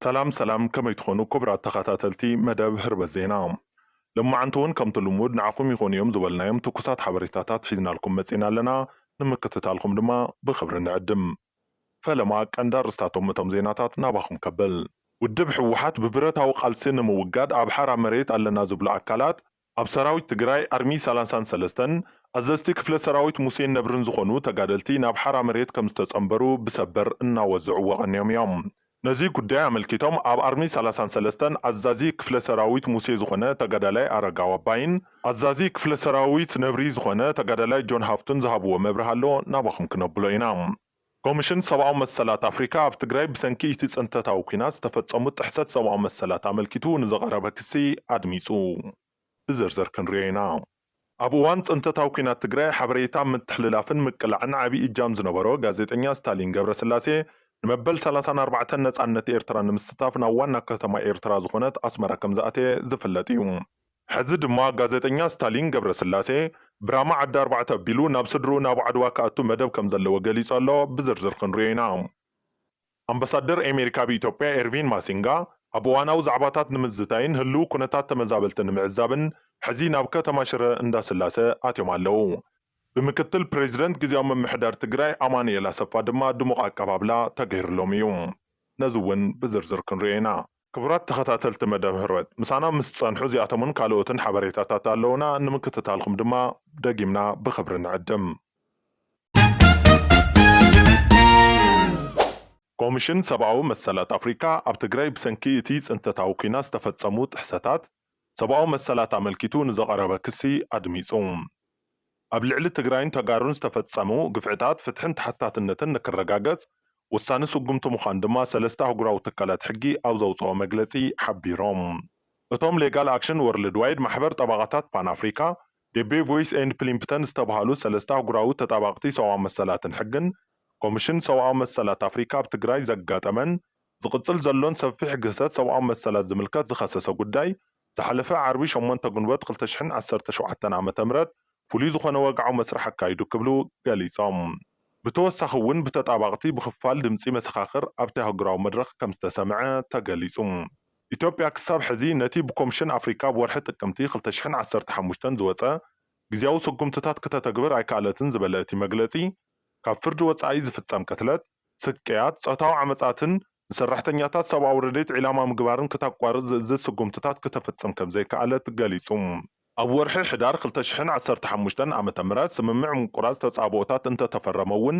ሰላም ሰላም ከመይ ትኾኑ ኩቡራት ተኻታተልቲ መደብ ህርበት ዜና ሎማዓንቲ ውን ከምቲ ልሙድ ንዓኹም ይኾኑ እዮም ዝበልናዮም ትኩሳት ሓበሬታታት ሒዝናልኩም መጺና ኣለና ንምክትታልኹም ድማ ብኽብሪ ንዕድም ፈለማ ቀንዲ ኣርእስታቶም እቶም ዜናታት ናባኹም ከብል ውድብ ህወሓት ብብረታዊ ቃልሲ ንምውጋድ ኣብ ሓራ መሬት ኣለና ዝብሉ ኣካላት ኣብ ሰራዊት ትግራይ ኣርሚ ሰላሳን ሰለስተን ኣዘዝቲ ክፍለ ሰራዊት ሙሴን ነብርን ዝኾኑ ተጋደልቲ ናብ ሓራ መሬት ከምዝተፀምበሩ ብሰበር እናወዘዑዎ ቀንዮም እዮም። ነዚ ጉዳይ ኣመልኪቶም ኣብ ኣርሚ ሰላሳን ሰለስተን ኣዛዚ ክፍለ ሰራዊት ሙሴ ዝኾነ ተጋዳላይ ኣረጋው ኣባይን ኣዛዚ ክፍለ ሰራዊት ነብሪ ዝኾነ ተጋዳላይ ጆን ሃፍቱን ዝሃብዎ መብርሂ ኣሎ ናባኹም ክነብሎ ኢና። ኮሚሽን ሰብኣዊ መሰላት ኣፍሪካ ኣብ ትግራይ ብሰንኪ እቲ ፅንተታዊ ኲናት ዝተፈፀሙ ጥሕሰት ሰብኣዊ መሰላት ኣመልኪቱ ንዝቐረበ ክሲ ኣድሚፁ። ብዝርዝር ክንሪኦ ኢና። ኣብ እዋን ፅንተታዊ ኲናት ትግራይ ሓበሬታ ምትሕልላፍን ምቅላዕን ዓብዪ እጃም ዝነበሮ ጋዜጠኛ ስታሊን ገብረስላሴ ንመበል ሰላሳን ኣርባዕተን ነፃነት ኤርትራ ንምስታፍ ናብ ዋና ከተማ ኤርትራ ዝኾነት ኣስመራ ከምዝኣተየ ዝፍለጥ እዩ። ሕዚ ድማ ጋዜጠኛ ስታሊን ገብረስላሴ ብራማ ዓዲ ኣርባዕተ ኣቢሉ ናብ ስድርኡ ናብ ዓድዋ ክኣቱ መደብ ከም ዘለዎ ገሊጹ ኣሎ፣ ብዝርዝር ክንሪኦ ኢና። ኣምበሳደር ኤሜሪካ ኣብ ኢትዮጵያ ኤርቪን ማሲንጋ ኣብ እዋናዊ ዛዕባታት ንምዝታይን ህልዊ ኩነታት ተመዛበልቲ ንምዕዛብን ሕዚ ናብ ከተማ ሽረ እንዳስላሰ ኣትዮም ኣለው። ብምክትል ፕሬዚደንት ግዝያዊ ምምሕዳር ትግራይ ኣማኑኤል ኣሰፋ ድማ ድሙቕ ኣቀባብላ ተገይርሎም እዩ። ነዚ እውን ብዝርዝር ክንሪኦ ኢና። ክቡራት ተኸታተልቲ መደብ ህርመት ምሳና ምስ ትጸንሑ እዚኣቶምን ካልኦትን ሓበሬታታት ኣለዉና ንምክትታልኩም ድማ ደጊምና ብኽብሪ ንዕድም። ኮምሽን ሰብኣዊ መሰላት ኣፍሪካ ኣብ ትግራይ ብሰንኪ እቲ ፅንተታዊ ኲናት ዝተፈፀሙ ጥሕሰታት፣ ሰብኣዊ መሰላት ኣመልኪቱ ንዘቐረበ ክሲ ኣድሚፁ። ኣብ ልዕሊ ትግራይን ተጋሩን ዝተፈፀሙ ግፍዕታት ፍትሕን ተሓታትነትን ንክረጋገፅ ወሳኒ ስጉምቲ ምዃኑ ድማ ሰለስተ ኣህጉራዊ ትካላት ሕጊ ኣብ ዘውፅኦ መግለፂ ሓቢሮም። እቶም ሌጋል ኣክሽን ወርልድ ዋይድ፣ ማሕበር ጠበቓታት ፓን ኣፍሪካ፣ ዴቤ ቮይስ ኤንድ ፕሊምፕተን ዝተብሃሉ ሰለስተ ኣህጉራዊ ተጣባቕቲ ሰብኣዊ መሰላትን ሕግን፣ ኮምሽን ሰብኣዊ መሰላት ኣፍሪካ ኣብ ትግራይ ዘጋጠመን ዝቕጽል ዘሎን ሰፊሕ ግህሰት ሰብኣዊ መሰላት ዝምልከት ዝኸሰሰ ጉዳይ፣ ዝሓለፈ ዓርቢ ሸሞንተ ግንቦት ክልተ ሽሕን ዓሰርተ ሸውዓተን ዓመተ ምህረት ፍሉይ ዝኾነ ወግዓዊ መስርሕ ኣካይዱ ክብሉ ገሊጾም። ብተወሳኺ እውን ብተጣባቕቲ ብክፋል ድምጺ መሰኻኽር ኣብቲ ኣህጉራዊ መድረኽ ከም ዝተሰምዐ ተገሊጹ። ኢትዮጵያ ክሳብ ሕዚ ነቲ ብኮምሽን ኣፍሪካ ኣብ ወርሒ ጥቅምቲ ክልተ ሽሕን ዓሰርተ ሓሙሽተን ዝወጸ ግዝያዊ ስጉምትታት ክተተግብር ኣይከኣለትን ዝበለ እቲ መግለጺ፣ ካብ ፍርዲ ወጻኢ ዝፍጸም ቅትለት፣ ስቅያት፣ ጾታዊ ዓመጻትን ንሰራሕተኛታት ሰብኣዊ ረድኤት ዒላማ ምግባርን ክታቋርጽ ዝእዝዝ ስጉምትታት ክተፍጽም ከምዘይከኣለት ገሊጹ። ኣብ ወርሒ ሕዳር ክልተ ሽሕን ዓሰርተ ሓሙሽተን ዓመተ ምህረት ስምምዕ ምቁራጽ ተጻብኦታት እንተተፈረመ'ውን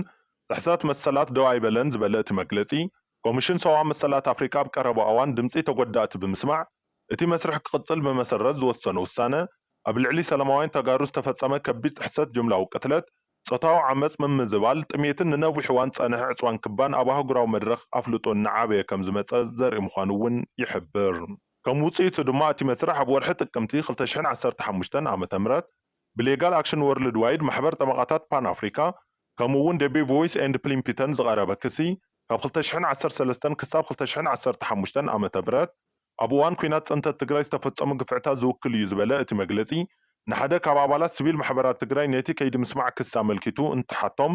ጥሕሰት መሰላት ደው ኣይበለን ዝበለ እቲ መግለጺ፣ ኮሚሽን ሰብኣዊ መሰላት ኣፍሪቃ ኣብ ቀረባ እዋን ድምጺ ተጎዳእቲ ብምስማዕ እቲ መስርሕ ክቕጽል ብመሰረት ዝወሰኖ ውሳነ ኣብ ልዕሊ ሰለማውያን ተጋሩ ዝተፈጸመ ከቢድ ጥሕሰት ጅምላዊ ቅትለት ጾታዊ ዓመጽ ምምዝባል ጥሜትን ንነዊሕ እዋን ዝጸንሐ ዕጽዋን ክባን ኣብ ኣህጉራዊ መድረኽ ኣፍልጦ እናዓበየ ከም ዝመጸ ዘርኢ ምዃኑ እውን ይሕብር። ከም ውጽኢቱ ድማ እቲ መስርሕ ኣብ ወርሒ ጥቅምቲ ክልተ ሽሕን ዓሰርተ ሓሙሽተን ዓመተ ምህረት ብሌጋል ኣክሽን ወርልድ ዋይድ፣ ማሕበር ጠበቓታት ፓን ኣፍሪካ፣ ከምኡ እውን ደቤ ቮይስ ኤንድ ፕሊምፒተን ዝቐረበ ክሲ ካብ ክልተ ሽሕን ዓሰርተ ሰለስተን ክሳብ ክልተ ሽሕን ዓሰርተ ሓሙሽተን ዓመተ ምህረት ኣብ እዋን ኲናት ፅንተት ትግራይ ዝተፈፀሙ ግፍዕታት ዝውክል እዩ ዝበለ እቲ መግለፂ፣ ንሓደ ካብ ኣባላት ስቪል ማሕበራት ትግራይ ነቲ ከይዲ ምስማዕ ክሲ ኣመልኪቱ እንትሓቶም፣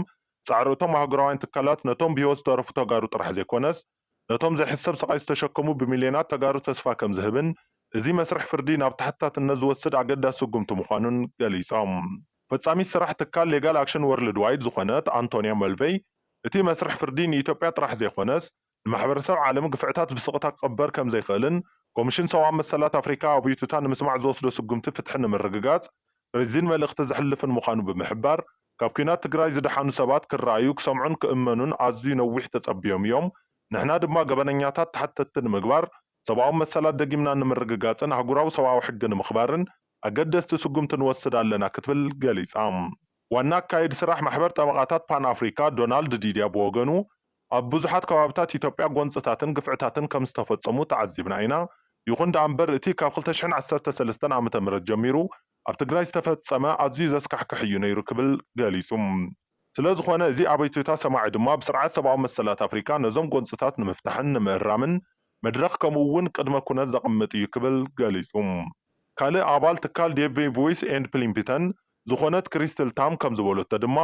ፃዕሪ እቶም ኣህጉራውያን ትካላት ነቶም ብህይወት ዝተረፉ ተጋሩ ጥራሕ ዘይኮነስ ነቶም ዘይሕሰብ ስቓይ ዝተሸከሙ ብሚልዮናት ተጋሩ ተስፋ ከምዝህብን እዚ መስርሕ ፍርዲ ናብ ተሓታትነት ዝወስድ ኣገዳሲ ስጉምቲ ምዃኑን ገሊፆም። ፈፃሚት ስራሕ ትካል ሌጋል ኣክሽን ወርልድዋይድ ዝኾነት ኣንቶንያ መልቬይ፣ እቲ መስርሕ ፍርዲ ንኢትዮጵያ ጥራሕ ዘይኾነስ ንማሕበረሰብ ዓለም ግፍዕታት ብስቕታ ክቕበር ከምዘይክእልን ኮሚሽን ሰብኣዊ መሰላት ኣፍሪካ ኣቡዩቱታ ንምስማዕ ዝወስዶ ስጉምቲ ፍትሒ ንምርግጋፅ ርዚን መልእኽቲ ዘሕልፍን ምዃኑ ብምሕባር ካብ ኲናት ትግራይ ዝደሓኑ ሰባት ክረኣዩ፣ ክሰምዑን ክእመኑን ኣዝዩ ነዊሕ ተፀቢዮም እዮም ንሕና ድማ ገበነኛታት ተሓተትቲ ንምግባር ሰብኣዊ መሰላት ደጊምና ንምርግጋፅን ኣህጉራዊ ሰብኣዊ ሕጊ ንምኽባርን ኣገደስቲ ስጉምቲ ንወስድ ኣለና ክትብል ገሊፃ። ዋና ኣካይድ ስራሕ ማሕበር ጠበቓታት ፓን ኣፍሪካ ዶናልድ ዲድያ ብወገኑ፣ ኣብ ብዙሓት ከባብታት ኢትዮጵያ ጎንፅታትን ግፍዕታትን ከምዝተፈፀሙ ተዓዚብና ኢና። ይኹን ደኣምበር እቲ ካብ ክልተ ሽሕን ዓሰርተ ሰለስተን ዓመተ ምህረት ጀሚሩ ኣብ ትግራይ ዝተፈፀመ ኣዝዩ ዘስካሕክሕ እዩ ነይሩ ክብል ገሊፁ። ስለዝኾነ እዚ ኣቤቱታ ሰማዒ ድማ ብስርዓት ሰብኣዊ መሰላት ኣፍሪካ ነዞም ጎንፅታት ንምፍታሕን ንምእራምን መድረኽ ከምኡ እውን ቅድመ ኩነት ዘቕምጥ እዩ ክብል ገሊፁ። ካልእ ኣባል ትካል ዴቭ ቮይስ ኤንድ ፕሊምፒተን ዝኾነት ክሪስትል ታም ከምዝበለቶ ድማ፣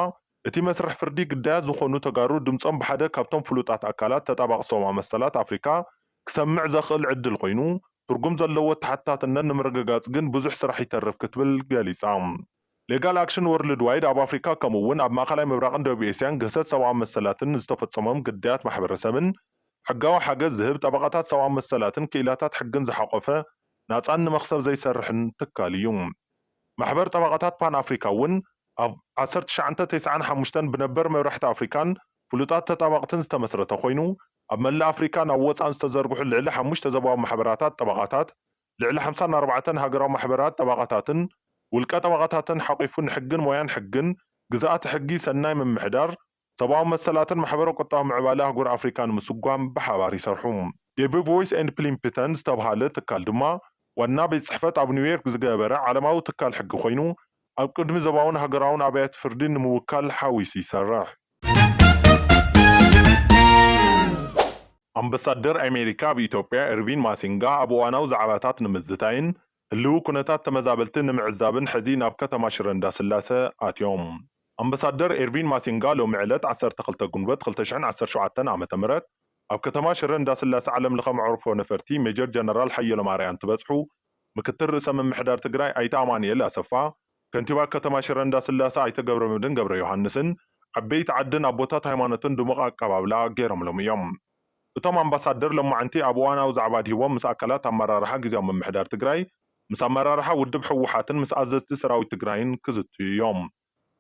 እቲ መስርሕ ፍርዲ ግዳያት ዝኾኑ ተጋሩ ድምፆም ብሓደ ካብቶም ፍሉጣት ኣካላት ተጣባቒ ሰብኣዊ መሰላት ኣፍሪካ ክሰምዕ ዘኽእል ዕድል ኮይኑ ትርጉም ዘለዎ ተሓታትነት ንምርግጋፅ ግን ብዙሕ ስራሕ ይተርፍ ክትብል ገሊፃ። ሌጋል ኣክሽን ወርልድ ዋይድ ኣብ ኣፍሪካ ከምኡ እውን ኣብ ማእኸላይ ምብራቕን ደቡብ ኤስያን ግህሰት ሰብኣዊ መሰላትን ንዝተፈፀሞም ግዳያት ማሕበረሰብን ሕጋዊ ሓገዝ ዝህብ ጠበቓታት ሰብኣዊ መሰላትን ክኢላታት ሕግን ዝሓቖፈ ናፃን ንመኽሰብ ዘይሰርሕን ትካል እዩ። ማሕበር ጠበቓታት ፓን ኣፍሪካ እውን ኣብ ዓሰርተ ትሽዓተ ተስዓን ሓሙሽተን ብነበር መብራሕቲ ኣፍሪካን ፍሉጣት ተጣባቕትን ዝተመስረተ ኮይኑ ኣብ መላእ ኣፍሪካን ኣብ ወፃእን ዝተዘርግሑ ልዕሊ ሓሙሽተ ዘባዊ ማሕበራታት ጠበቓታት ልዕሊ ሓምሳን ኣርባዕተን ሃገራዊ ማሕበራት ጠበቓታትን ውልቀ ጠበቓታትን ሓቒፉ ንሕግን ሞያን ሕግን ግዝኣተ ሕጊ ሰናይ ምምሕዳር ሰብኣዊ መሰላትን ማሕበረ-ቁጠባዊ ምዕባለ ኣህጉር ኣፍሪቃ ንምስጓም ብሓባር ይሰርሑ። ዴቢ ቮይስ ኤንድ ፕሊምፕተን ዝተብሃለ ትካል ድማ ዋና ቤት ጽሕፈት ኣብ ኒውዮርክ ዝገበረ ዓለማዊ ትካል ሕጊ ኮይኑ ኣብ ቅድሚ ዘባውን ሃገራውን ኣብያተ ፍርዲ ንምውካል ሓዊሱ ይሰርሕ። ኣምበሳደር ኣሜሪካ ኣብ ኢትዮጵያ ኤርቪን ማሲንጋ ኣብ እዋናዊ ዛዕባታት ንምዝታይን ህልዊ ኩነታት ተመዛበልቲ ንምዕዛብን ሕዚ ናብ ከተማ ሽረ እንዳስላሰ ኣትዮም። ኣምበሳደር ኤርቪን ማሲንጋ ሎሚ ዕለት ዓሰርተ ክልተ ግንቦት ክልተ ሽሕን ዓሰርተ ሸውዓተን ዓመተ ምህረት ኣብ ከተማ ሽረ እንዳስላሰ ዓለም ለኸ መዕርፎ ነፈርቲ ሜጀር ጀነራል ሓየሎም ኣርኣያ እንትበፅሑ ምክትል ርእሰ ምምሕዳር ትግራይ ኣይተ ኣማኒኤል ኣሰፋ ከንቲባ ከተማ ሽረ እንዳስላሰ ኣይተ ገብረመድህን ገብረዮሃንስን ዓበይቲ ዓድን ኣቦታት ሃይማኖትን ድሙቕ ኣቀባብላ ገይሮምሎም እዮም። እቶም ኣምባሳደር ሎማዕንቲ ኣብ እዋናዊ ዛዕባ ኣድሂቦም ምስ ኣካላት ኣመራርሓ ግዝያዊ ምምሕዳር ትግራይ፣ ምስ ኣመራርሓ ውድብ ህወሓትን ምስ ኣዘዝቲ ሰራዊት ትግራይን ክዝትዩ እዮም።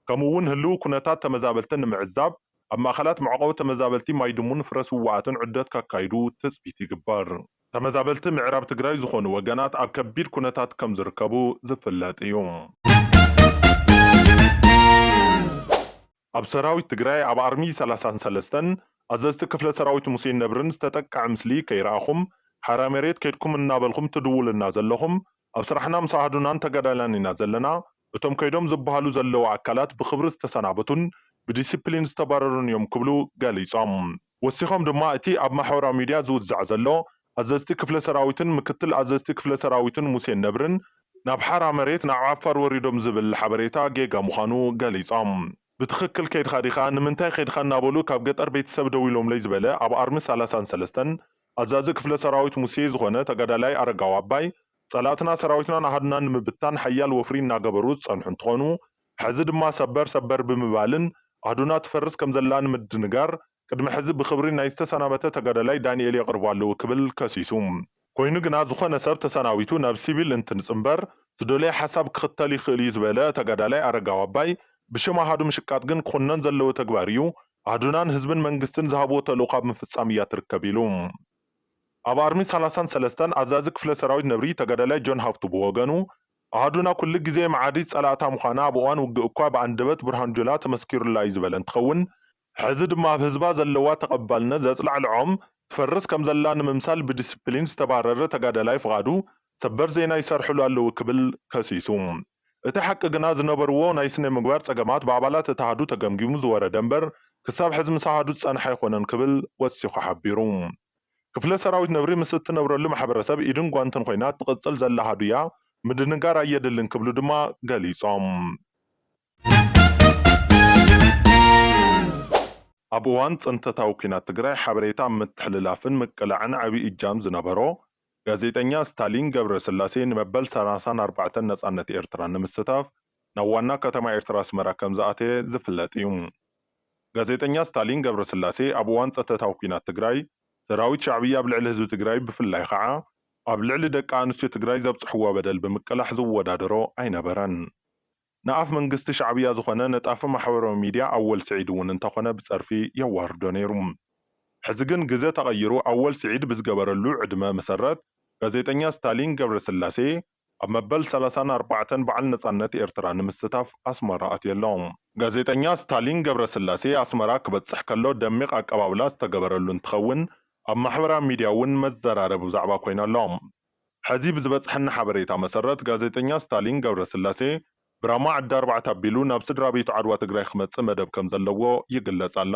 ከምኡ እውን ህልዊ ኩነታት ተመዛበልቲ ንምዕዛብ ኣብ ማእኸላት መዕቖቢ ተመዛበልቲ ማይድሙን ፍረስዋኣትን ዑደት ከካይዱ ትፅቢት ይግበር። ተመዛበልቲ ምዕራብ ትግራይ ዝኾኑ ወገናት ኣብ ከቢድ ኩነታት ከም ዝርከቡ ዝፍለጥ እዩ። ኣብ ሰራዊት ትግራይ ኣብ ኣርሚ ሰላሳን ሰለስተን ኣዘዝቲ ክፍለ ሰራዊት ሙሴን ነብርን ዝተጠቀዐ ምስሊ ከይረኣኹም ሓራ መሬት ከድኩም እናበልኹም ትድውሉልና ዘለኹም ኣብ ስራሕና ምስ ኣሃዱናን ተጋዳላይናን ኢና ዘለና እቶም ከይዶም ዝብሃሉ ዘለዉ ኣካላት ብኽብሪ ዝተሰናበቱን ብዲሲፕሊን ዝተባረሩን እዮም ክብሉ ገሊፆም። ወሲኾም ድማ እቲ ኣብ ማሕበራዊ ሚድያ ዝውዛዕ ዘሎ ኣዘዝቲ ክፍለ ሰራዊትን ምክትል ኣዘዝቲ ክፍለ ሰራዊትን ሙሴን ነብርን ናብ ሓራ መሬት ናብ ዓፋር ወሪዶም ዝብል ሓበሬታ ጌጋ ምዃኑ ገሊፆም። ብትኽክል ከይድኻ ዲኻ? ንምንታይ ከይድኻ? እናበሉ ካብ ገጠር ቤተሰብ ደዊሎምለይ ዝበለ ኣብ ኣርሚ ሰላሳን ሰለስተን ኣዛዚ ክፍለ ሰራዊት ሙሴ ዝኾነ ተጋዳላይ ኣረጋዊ ኣባይ ፀላእትና ሰራዊትናን ኣሃዱናን ንምብትታን ሓያል ወፍሪ እናገበሩ ዝፀንሑ እንትኾኑ ሕዚ ድማ ሰበር ሰበር ብምባልን ኣህዱና ትፈርስ ከምዘላ ንምድንጋር ቅድሚ ሕዚ ብኽብሪ ናይ ዝተሰናበተ ተጋዳላይ ዳኒኤል የቕርቡ ኣለዉ ክብል ከሲሱ። ኮይኑ ግና ዝኾነ ሰብ ተሰናቢቱ ናብ ሲቪል እንትንፅምበር ዝደለዮ ሓሳብ ክኽተል ይኽእል እዩ ዝበለ ተጋዳላይ ኣረጋዊ ኣባይ ብሽም ኣሃዱ ምሽቃጥ ግን ክኹነን ዘለዎ ተግባር እዩ። ኣህዱናን ህዝብን መንግስትን ዝሃብዎ ተልእኾ ኣብ ምፍፃም እያ ትርከብ ኢሉ። ኣብ ኣርሚ ሰላሳን ሰለስተን ኣዛዚ ክፍለ ሰራዊት ነብሪ ተጋዳላይ ጆን ሃፍቱ ብወገኑ ኣሃዱና ኩሉ ግዜ መዓዲት ፀላእታ ምዃና ኣብ እዋን ውግእ እኳ ብኣንደበት ብርሃኑ ጁላ ተመስኪሩላ እዩ ዝበለ እንትኸውን ሕዚ ድማ ኣብ ህዝባ ዘለዋ ተቐባልነት ዘፅላዕልዖም ትፈርስ ከምዘላ ንምምሳል ብዲሲፕሊን ዝተባረረ ተጋዳላይ ፍቓዱ ሰበር ዜና ይሰርሕሉ ኣለዉ ክብል ከሲሱ። እቲ ሓቂ ግና ዝነበርዎ ናይ ስነምግባር ፀገማት ብኣባላት እቲ ኣሃዱ ተገምጊሙ ዝወረደ እምበር ክሳብ ሕዚ ምስ ኣሃዱ ዝፀንሐ ኣይኮነን ክብል ወሲኹ ሓቢሩ። ክፍለ ሰራዊት ነብሪ ምስ እትነብረሉ ማሕበረሰብ ኢድን ጓንትን ኾይና እትቕፅል ዘላ ሃዱያ ምድንጋር ኣየድልን ክብሉ ድማ ገሊፆም። ኣብ እዋን ፅንተታዊ ኲናት ትግራይ ሓበሬታ ኣብ ምትሕልላፍን ምቅላዕን ዓብይ እጃም ዝነበሮ ጋዜጠኛ ስታሊን ገብረስላሴ ንመበል ሰላሳን ኣርባዕተን ነፃነት ኤርትራ ንምስታፍ ናብ ዋና ከተማ ኤርትራ ኣስመራ ከም ዝኣተየ ዝፍለጥ እዩ። ጋዜጠኛ ስታሊን ገብረስላሴ ኣብ እዋን ጸተታዊ ኲናት ትግራይ ሰራዊት ሻዕብያ ኣብ ልዕሊ ህዝቢ ትግራይ ብፍላይ ኸዓ ኣብ ልዕሊ ደቂ ኣንስትዮ ትግራይ ዘብጽሕዎ በደል ብምቅላሕ ዝወዳደሮ ኣይነበረን። ንኣፍ መንግስቲ ሻዕብያ ዝኾነ ነጣፊ ማሕበራዊ ሚድያ ኣወል ስዒድ እውን እንተኾነ ብጸርፊ የዋርዶ ነይሩ። ሕዚ ግን ግዘ ተቐይሩ ኣወል ስዒድ ብዝገበረሉ ዕድመ መሰረት ጋዜጠኛ ስታሊን ገብረስላሴ ኣብ መበል ሰላሳን ኣርባዕተን በዓል ነጻነት ኤርትራ ንምስታፍ ኣስመራ ኣትየ ኣሎ። ጋዜጠኛ ስታሊን ገብረስላሴ ኣስመራ ክበጽሕ ከሎ ደሚቕ ኣቀባብላ ዝተገበረሉ እንትኸውን፣ ኣብ ማሕበራዊ ሚድያ እውን መዘራረቢ ብዛዕባ ኮይኑ ኣሎ። ሐዚ ብዝበጽሐኒ ሓበሬታ መሰረት ጋዜጠኛ ስታሊን ገብረስላሴ ብራማ ዓዲ ኣርባዕተ ኣቢሉ ናብ ስድራቤቱ ዓድዋ ትግራይ ክመጽእ መደብ ከምዘለዎ ይግለጽ ኣሎ።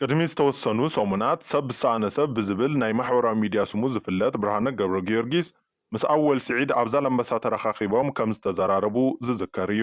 ቅድሚ ዝተወሰኑ ሰሙናት ሰብ ብዝሰኣነ ሰብ ብዝብል ናይ ማሕበራዊ ሚድያ ስሙ ዝፍለጥ ብርሃነ ገብረጊዮርጊስ ምስ ኣወል ስዒድ ኣብ ዛላምበሳ ተረኻኺቦም ከምዝተዘራረቡ ዝዝከር እዩ።